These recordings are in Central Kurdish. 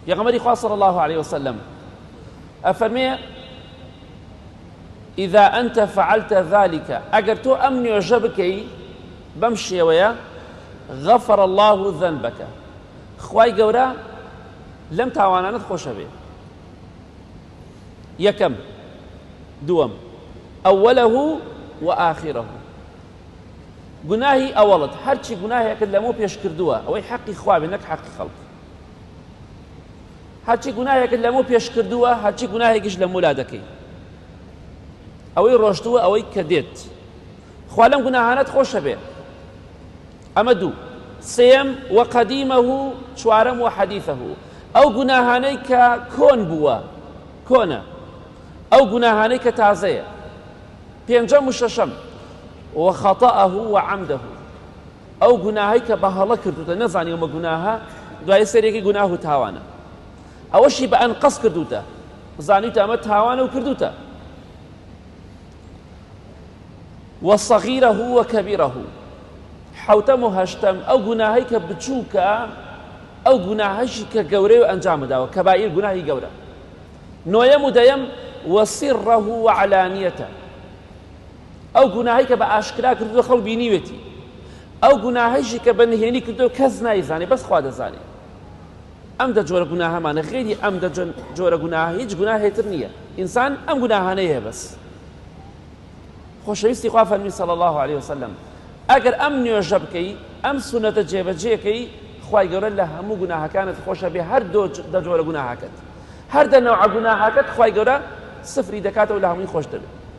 پێغەمبەری خوا صلی اللە علیە وسلم ئەفەرمێ ئیذا ئەنت فعلت ذلك ئەگەر تۆ ئەم نوێژە بکەی بەم شێوەیە غفر الله ذنبك خوای گەورە لەم تاوانانت خۆشە بێ یەکەم دووەم ئەوەلە و ئاخیرە گوناهی ئەوەڵت هەرچی گوناهێکت لەمە پێش کردووە ئەوەی حەقی خواێ نەک حەقی خەڵک هەرچی گوناهێکت لەمو پێش کردووە هەرچی گوناهێکیش لە مولا دەکەی ئەوەی ڕۆشتووە ئەوەی کە دێت خوا لەم گوناهانەت خۆشە بێ ئەمە دوو سێم و قەدیمە و چوارەم و حەدیثە و ئەو گوناهانەی کە کۆن بووە کۆنە ئەو گوناهانەی کە تازەیە پێنجەم و شەشەم و خەتەه و عەمدەه ئەو گوناهەی کە بە هەڵە کردووتە نەزانی ئەمە گوناهە دوای سەرێکی گوناه و تاوانە ئەوەشی بە ئەنقەس کردووتە زانیوتە ئەمە تاوانە و کردووتە وەسەغیرە هو کەبیرە هو حوتەم و هەشتەم ئەو گوناهەی کە بچووکە ئەو گوناهەشی کە گەورەی و ئەنجام داوە کە بایر گوناهی گەورە نۆیەم و دەیەم وەسیڕەه وعلانیەتە ئەو گوناهی کە بە ئاشکرا کردووە خەڵ بینیوێتی ئەو گوناهیشی کە بە نهێنی کردو کەس نایزانێ بەس خوا دەزانێ ئەم دە جۆرە گوناهمانە غێری ئەم دە جۆرە گوناه هیچ گوناهێتر نییە ئینسان ئەم گوناهانەیە بەس خۆشەویستی خوا فەرمی صلی الله عليه وسلم ئەگەر ئەم نوێژە بکەی ئەم سونەتە جێبەجێکەی خی گەورە لە هەموو گوناهەکانت خۆشە بێ هەر دە جۆرە گوناهاکەت هەر دە نەوە گوناهاکەت خی گەورە سفری دەکاتەوە لە هەمووی خۆش دەبێت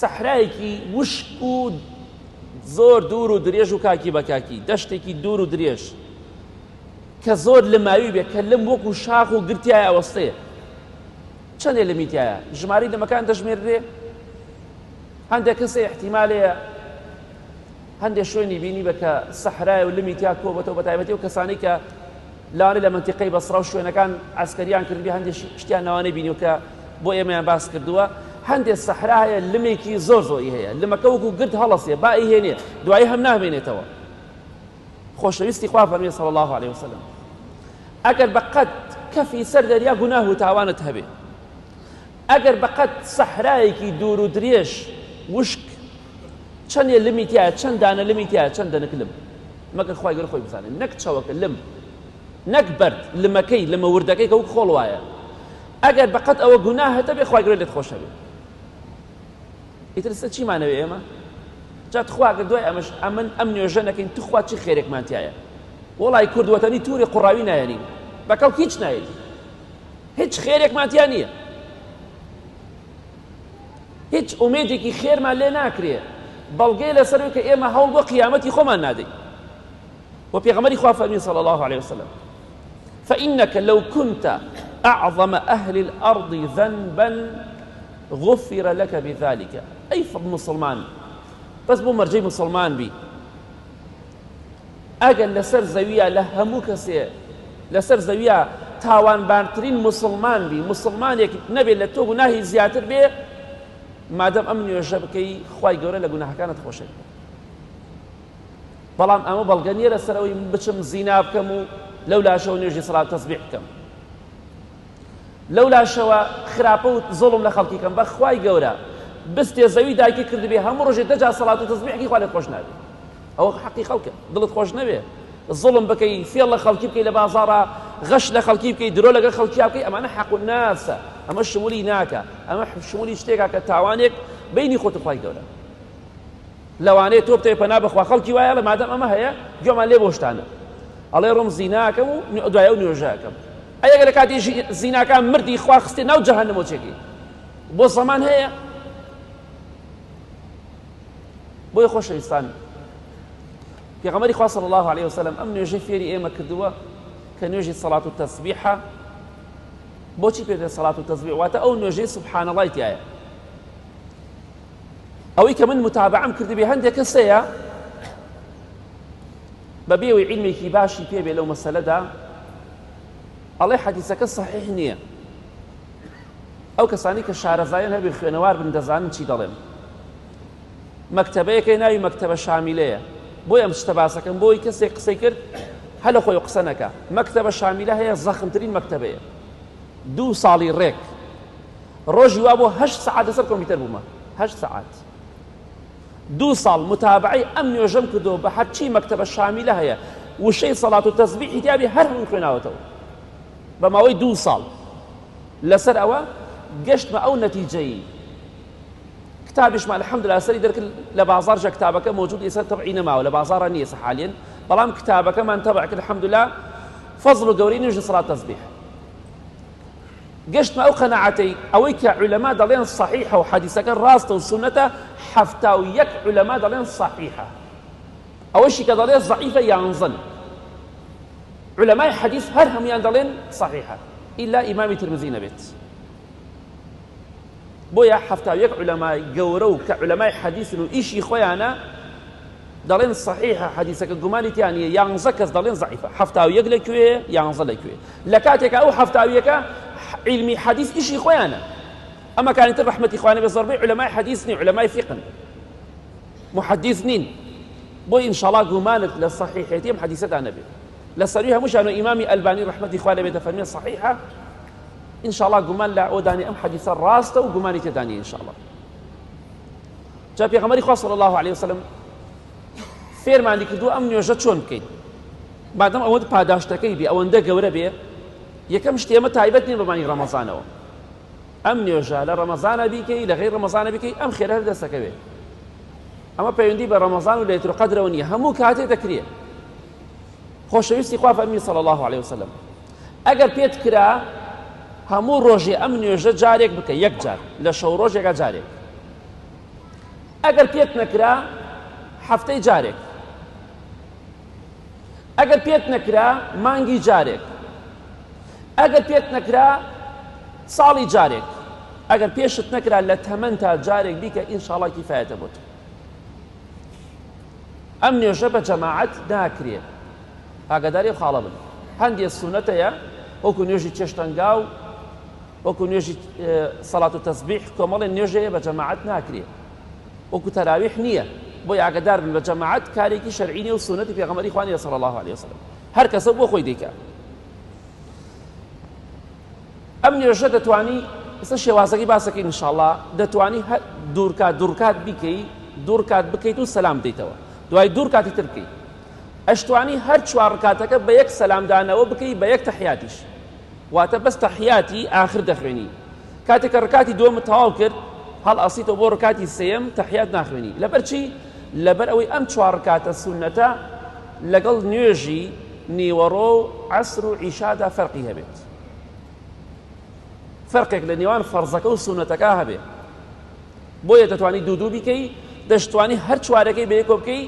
سەحرایەکی وشک و زۆر دوور و درێژ و کاکی بە کاکی دەشتێکی دوور و درێژ کە زۆر لە ماوی بێ کە لەم وەکو شاخ و گرتیای ئەوەستەیە چەندێ لە میتایە ژماری دەمەکان دەژمێررێ هەندێک کەسێ احتیمالەیە هەندێک شوێنی بینی بە کە سەحرای و لەمی تیا کۆبەتەوە بە تایبەتی و کەسانی کە لەوانەیە لە مەنتیقەی بەسڕە و شوێنەکان عەسکەریان کردبێ هەندێ شتیان لەوانەیە بینیوە کە بۆ ئێمەیان باس کردووە هەندێ سەحرا هەیە لمێکی زۆر زۆری هەیە لمەکە وەکو گرد هەڵەسێ با ئیهێنێ دوایی هەم نامێنێتەوە خۆشەویستی خوا فەرمی صلی الله عليه وسلم ئەگەر بە قەد کەفی سەر دەریا گوناه و تاوانت هەبێ ئەگەر بەقەد سەحرایەکی دوور و درێژ وشک چەنێ لمی تیایە چەند دانە لمی تیایە چەند دەنک لم مەگەر خوای گەر خۆی بزانێت نەک چەوەکە لم نەک بەرد لمەکەی لمە وردەکەی کە وک خۆڵ وایە ئەگەر بەقەت ئەوە گوناهەتە بێ خوای گەر لێت خۆشەوێ ئیتر سە چیمانەوێ ئێمە جا تخوا گە دوای ئەمەش ئەمن ئەم نوێژە نەکەین تخوا چی خێرێکمان تایە وڵی کوردوەتەنی تووری قوڕاوی نایەنین بەکەڵ هیچ نایەنین هیچ خێرێکمان تیا نییە هیچ ئومێدێکی خێرمان لێ ناکرێ بەڵگەی لەسەروی کە ئێمە هەوڵ بۆ قیامەتی خۆمان نادەین و پێغەمەری خوا فەرمی صلى الله عليه وسلم فإنك لو كنت أعظم أهل الأرض ذنبا غفر لك بذلك أي مسلمان بس بو مرجي مسلمان بي ئەگەر لەسەر زەویە لە هەموو کەسێ لەسەر زەویە تاوانبارترین مسلمان بی مسلمانێک نەبێت لە تۆ گوناهی زیاتر بێ مادەم ئەم نوێژە بکەی خی گەورە لە گوناهەکانت خۆشێت بەڵام ئەمە بەڵگە نیە لەسەرەوەی بچم زینا بکەم و لەو لاشەوە نوێژی سڵات تەسبیح بکەم لەو لاشەوە خراپە و زۆڵم لە خەڵکی کەم بەخوای گەورە بستێ زەوی دایکی کردبێ هەموو ڕژێ دەجا سەڵات و تەسبیحی خوا لە خۆش نابێت ئەوە حەقی خەڵکە دڵت خۆش نەوێ زڵم بکەی فێڵ لە خەڵکی بکەی لە بازارە غەش لە خەڵکی بکەی درۆ لەگەڵ خەڵکیا بکەی ئەمانە حەق و ناسە ئەمە شمولی ناکە ئەمە شمولی شتێکا کە تاوانێک بینی خۆت خی گەورە لەوانەیە تۆ بتێ پەنا بخوا خەڵکی وایە لە مادەم ئەمە هەیە گوێمان لێ بۆشتانە ئەڵێ ڕۆم زیناکەم و دوایە و نوێژەکەم ئەگە لە کاتی زیناکان مردی خوا خستێ ناو جەهنمۆچێکی بۆ زەمان هەیە بۆیە خۆشەویستان پێغەمەری خوا صلی الله علیه وسلم ئەم نوێژەی فێری ئێمە کردووە کە نوێژی سەڵات و تەسبیحە بۆچی پێێ سەڵات و تەسبیح واتە ئەو نوێژەی سبحانە ڵای تایە ئەوەی کە من متابعم کردبێ هەندێک کەسەیە بە بێوەی عیلمێکی باشی پێبێ لەو مەسەلەدا ئەڵێ حەدیسەکە صحیح نییە ئەو کەسانەی کە شارەزایان هەبێ خوێنەوار بن دەزانن چی دەڵێم مەکتەبەیەکەی ناوی مەکتەبە شامیلەیە بۆی ئەم شتە باسەکەم بۆی کەسێک قسەی کرد هەلە خۆی قسە نەکە مەکتەبە شامیلە هەیە زەخمترین مەکتەبەیە دوو ساڵی ڕێک ڕۆژی وا بۆ هەشت سعات لەسەر کۆمپیوتەر بوومە هەشت سعات دوو ساڵ متابعی ئەم نوێژەم کردو بە هەرچی مەکتەبە شامیلە هەیە وشەی سەڵات و تەزبیحی دیابی هەر هەموو خوێناوەتەوە بە ماوەی دوو ساڵ لەسەر ئەوە گەشتمە ئەو نەتیجەی کتابیشمان الحمدلله سەری دەرکرد لە بازار جە کتابەکە موجود ئێستا تەبعی نەماوە لە بازارە نیە حالێن بەڵام کتابەکەمان تەبع کرد الحمدلله فەزل و گەورەی نوێژ سڵات تەزبیح گەشتمە ئەو قەنەعەتەی ئەوەی کە علەما دەڵێن صحیحە و حەدیسەکە ڕاستە و سونەتە حەفتا و یەک علەما دەڵێن صحیحە ئەوەشی کە دەڵێ زەعیفە یانزەن عولەمای حەدیس هەر هەمویان دەڵێن صحیحە ئیلا ئیمامی ترمزی نەبێت بۆیە حەفتا و یەک عولەمای گەورە و کە عولەمای حەدیسن و ئیشی خۆیانە دەڵێن صحیحە حەدیسەکە گومانی تیان نیە یانزە کەس دەڵێن زعیفە حەفتا و یەک لە کوێ یانزە لە کوێ لە کاتێکە ئەو حەفتاویەکە علمی حەدیس ئیشی خۆیانە ئەمە کانی تر رحمەتی خوانە بە زۆربەی علەمای حەدیسنی علەمای فقن محەدیث نین بۆیە ئینشاڵا گومانت لە صحیحێتی ئەم حەدیثەدا نەبێت لە سەروی هەمووشان و ئیمامی ئەلبانی ڕەحمەتی خوا لەبێت دەفەرمێت صحیحە ئینشاڵا گومان لە ئەودانی ئەم حەدیثە ڕاستە و گومانی تێدانی ئینشاڵا جا پێغەمەری خوا صلی الله عليه وسلم فێرمانی کردو ئەم نوێژە چۆن بکەین بادەم ئەوەند پاداشتەکەی بێ ئەوەندە گەورە بێ یەکەم شتێمە تایبەت نیە بەمانی ڕەمەزانەوە ئەم نوێژە لە ڕەمەزانە بیکەی لە غیر ڕەمەزانە بیکەی ئەم خێرە هەر دەستەکەوێ ئەمە پەیوەندی بە ڕەمەزان و لەیتر قەدرەوە نییە هەموو کاتێ دەکرێ خۆشەویستی خوا فەرمی صلی الله عليه وسلم ئەگەر پێت کرا هەموو ڕۆژێ ئەم نوێژە جارێک بکە یەک جار لە شەو ڕۆژێکە جارێک ئەگەر پێت نەکرا هەفتەی جارێک ئەگەر پێت نەکرا مانگی جارێک ئەگەر پێت نەکرا ساڵی جارێک ئەگەر پێشت نەکرا لە تەمەەن تا جارێک بیکە ئینشاڵا کیفاەتە بۆت ئەم نوێژە بە جەماعەت ناکرێ ئاگاداری خاڵە بن هەندێ سونەتەیە وەکو نوێژی چێشتەنگا و وەکو نوێژی سەڵات و تەسبیح کۆمەڵی نوێژەیە بە جەماعەت ناکرێ وەکو تەراویح نییە بۆ یاگەدار بن بە جەماعەت کارێکی شەرعینی و سونەتی پێغەمەری خوانیە سەڵ الله عليه وسلم هەر کەسە بۆ خۆی دەیکا. ئەم نوێژە دەتوانی ئێستا شێوازەکەی باسەکەی انشاءاللە دەتوانی دوورکات دوورکات بیکەی دوورکات بکەیت و سەلام دیتەوە دوای دوور کاتی تر بکەیت ئەشتوانی هەر چوار ڕکاتەکە بە یەک سەلامدانەوە بکەی بە یەک تەحیاتیش واتە بەس تەحیاتی ئاخر دەخوێنی کاتێکە ڕکاتی دووەمە تەواو کرد هەڵ ئەسیتەوە بۆ ڕکاتی سێم تەحیات ناخوێنی لەبەرچی لەبەر ئەوەی ئەم چوار ڕکاتە سونەتە لەگەڵ نوێژی نیوەڕۆ و عەسر و عیشادا فەرقی هەبێت فەرقێک لە نێوان فەرزەکە و سونەتەکە هەبێت بۆیە دەتوانی دوو دوو بیکەی دەشتوانی هەر چوارەکەی بە یەکۆ بکەی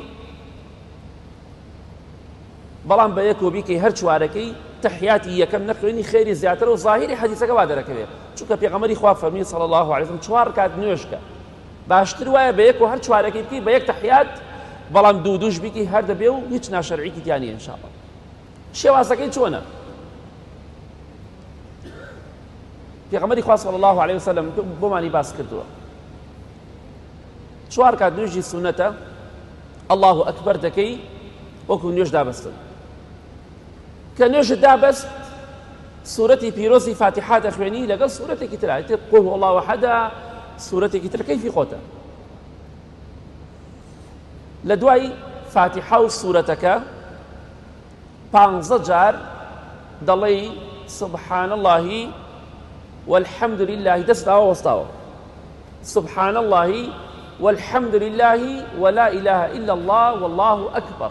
بەڵام بە یەکۆ بیکەی هەر چوارەکەی تحیاتی یەکەم نەخوێنی خێری زیاتر و ظاهری حەدیثەکە وا دەرەکەوێت چونکە پێغەمەری خوا فەرمی صلی الله عليه وسلم چوار کات نوێشکە باشتر وایە بە یەک و هەر چوارەکەی بکەی بە یەک تەحیات بەڵام دوو دووش بیکەی هەر دەبێ و هیچ ناشەرعیکی تیا نیە انشاءاللە شێوازەکەی چۆنە پێغەمبەری خوا صلی الله علیه وسلم بۆمانی باس کردووە چوار کات نوێژی سونەتە الله اکبر دەکەی وەکو نوێژ دابەستن کە نوێژت دا بەس سورەتی پیرۆزی فاتحا دەخوێنی لەگەڵ سورەتێکی تر ئەتر قل هو الله وحدا سورەتێکی تر کەیفی خۆتە لە دوای فاتحا و سورەتەکە پانزە جار دەڵێی سبحان اللهی والحمد لله دەست داوە وەستاوە سبحان اللهی والحمد لله ولا إله إلا الله والله أكبر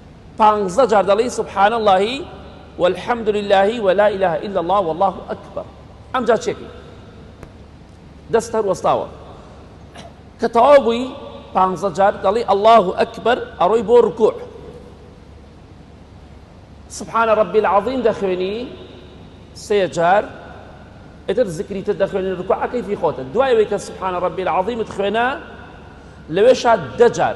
پانزە جار دەڵێی سبحان اللە و الحمد للە و لا اله الا اللە واللە اکبر ئەمجا چێکەی دەست هەر وەستاوە کە تەواو بووی پانزە جار دەڵێی اللە اکبر ئەڕۆی بۆ رکوع سبحان ربی العظیم دەخوێنی سێ جار ئیتر زکری تر دەخوێنی رکوعەکەی فی خۆتە دوای وەی کە سبحان ربی العظیمت خوێنا لەوێشا دەجار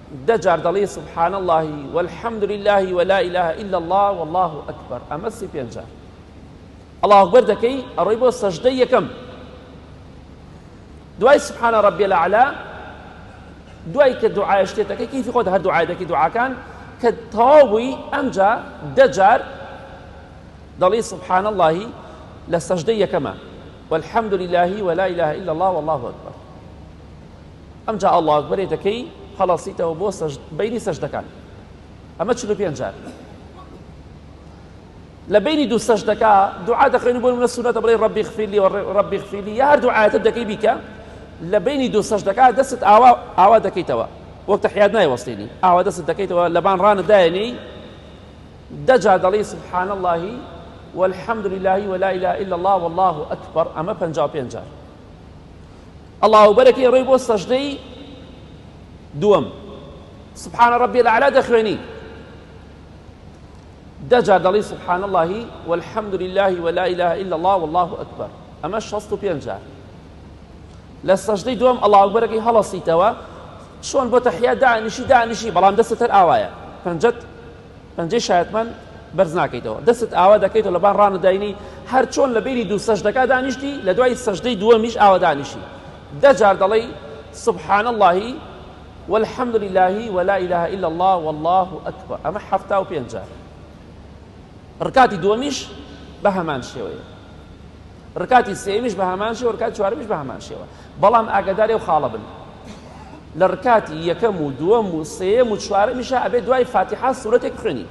دە جار دەڵێی سبحان اللە والحمد للە ولا اله الا اللە واللە اکبر ئەمە سی پێنج جار اللە اکبر دەکەی ئەڕۆی بۆ سەژدەی یەکەم دوای سبحان ربی الاعلى دوای کە دوعای شتێتەکە کیفی خۆت هەر دوعای دەکی دوعاکان کە تەواو بووی ئەمجا دە جار دەڵی سبحان اللهی لە سەژدە یەکەمە والحمد لله ولا إله إلا الله والله أكبر ئەمجا اللە اکبرێ دەکەی هەڵەسیتەوە بۆ بەینی سەژدەکان ئەمە چل و پێنج جار لە بینی دوو سەژدەکە دوعا دەخوێنی بۆ منە سونەتە بڵێ ڕبی خفیلی و ڕبی خفیلی یا هەر دوعاەتە دەکەی بیکە لە بینی دوو سەژدەکە دەست ئاوا ئاوا دەکەیتەوە وەک تەحیات نایوەستێنی ئاوا دەست دەکەیتەوە لەبان ڕانە دایێنی دەجا دەڵی سبحان اللهی والحمد لله ولا إله إلا الله والله أكبر أما بنجا بنجا ئەڵا و بەرەکەی ئەڕۆی بۆ سەژدەی دووەم سبحان ربی الاعلا دەخوێنی دەجا دەڵی سبحان اللهی والحمد لله ولا اله الا الله والله اکبر ئەمە شەست و پێنج جار لە سەژدەی دوم ئەڵا ئەکبەرەکەی هەڵەسیتەوە چۆن بۆ تەحیا دانیشی دانیشی بەڵام دەستە تەر ئاوایە پەنجەت پەنجەی شایەتمان بەرز ناکەیتەوە دەستت ئاوا دەکەیتەوە لە بان ڕانە داینی هەر چۆن لە بینی دوو سەژدەکە دانیشتی لە دوای سەژدەی دووەمیش ئاوا دانیشی دەجار دەڵێی سبحان اللهی والحمد لله ولا إله إلا الله والله أكبر أما حفتا وبينجا ركاتي دوميش بهمان شوية ڕکاتی سێیەمیش بە هەمان شێوە ڕکاتی چوارەمیش بە هەمان شێوە بەڵام ئاگاداری ئەو خاڵە بن لە ڕکاتی یەکەم و دووەم و سێیەم و چوارەمیشە ئەبێ دوای فاتیحا سوورەتێک بخوێنی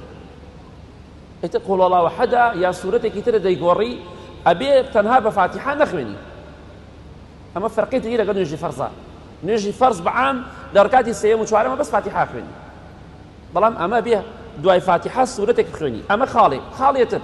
ئێتە قۆڵەڵاوە حەدا یا سوورەتێکی ترە دەیگۆڕی ئەبێ تەنها بە فاتیحا نەخوێنی ئەمە فەرقی تری لەگەڵ نوێژی فەرزە نوێژی فەرز بەعام لە ڕکاتی سێیەم و چوارەمە بەس فاتیحا خوێنی بەڵام ئەمە بێ دوای فاتیحا سوورەتێک بخوێنی ئەمە خاڵێک خاڵێتر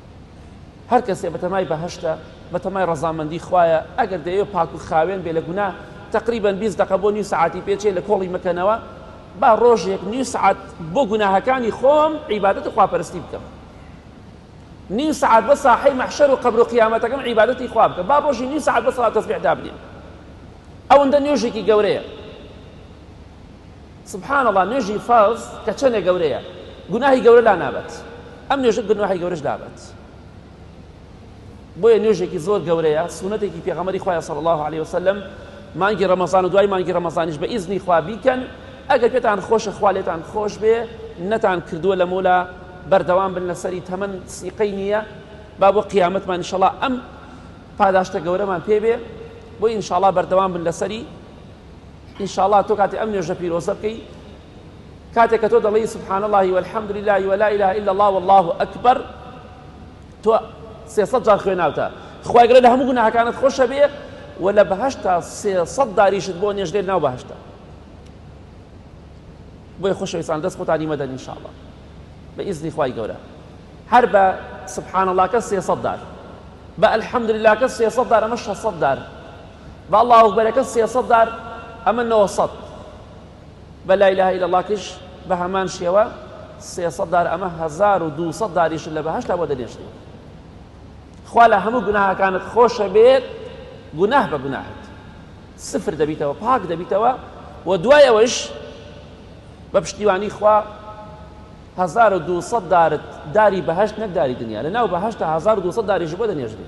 هەر کەسێ بەتەمای بەهەشتە بەتەمای ڕەزامەندی خوایە ئەگەر دەیەوێ پاک و خاوێن بێ لە گونا تقریبا 20 دقە بۆ نیو سعاتی پێچێ لە کۆڵی مەکەنەوە با ڕۆژێک نیو سعات بۆ گوناهەکانی خۆم عیبادەت و خواپەرستی بکەم نیو سعات بە ساحەی مەحشەر و قەبر و قیامەتەکەم عیبادەتی خوا بکە با ڕۆژی نیو سعات بە سەڵات تەسبیح دابنێم ئەوەندە نوێژێکی گەورەیە سبحان اللە نوێژی فەرز کە چەنێ گەورەیە گوناهی گەورە لا نابەت ئەم نوێژە گوناهی گەورەش لابەت بۆیە نوێژێکی زۆر گەورەیە سونەتێکی پێغەمەری خوایە صلی الله عليه وسلم مانگی ڕەمەزان و دوای مانگی ڕەمەزانیش بە ئیزنی خوا بیکەن ئەگەر پێتان خۆشە خوا لێتان خۆش بێ نەتان کردووە لە مۆلا بەردەوام بن لەسەری تەمەن سیقەی نییە با بۆ قیامەتمان انشاءالله ئەم پاداشتە گەورەمان پێ بێ بۆ انشاءالله بەردەوام بن لەسەری انشاءاللە تۆ کاتی ئەم نوێژە پیرۆزە بکەی کاتێک کە تۆ دەڵێی سبحان الله والحمد لله ولا اله الا الله والله اکبر تۆ سێسەد جار خوێناوتە خوای گەورە لە هەموو گوناهەکانت خۆشە بێ و لە بەهشتا سێسەد داریشت بۆ نێژدێت ناو بەهشتا بۆی خۆشەویستان دەست خۆتانی مەدەن انشاءالله بە ئیزنی خوای گەورە هەر بە سبحان اللهکە سێسەد دار بە الحمد لله کە سێسەد دار ئەمە شەسەد دار با اللە اکبرەکەت سێ سەد دار ئەمە نۆ سەد بە لا اله الا اللە کەش بە هەمان شێوە سێ سەد دار ئەمە هەزار و دوو سەد داریش لە بەهەشتا بۆ دەنێشتێ خوا لە هەموو گوناهەکانت خۆشە بێت گوناه بە گوناهت سفر دەبیتەوە پاک دەبیتەوە و دوای ئەوەش بە پشتیوانی خوا 1200 دارت داری بەهشت نەکداری دنیا لە ناو بەهشتا 1200 داریش بۆ دەنێژری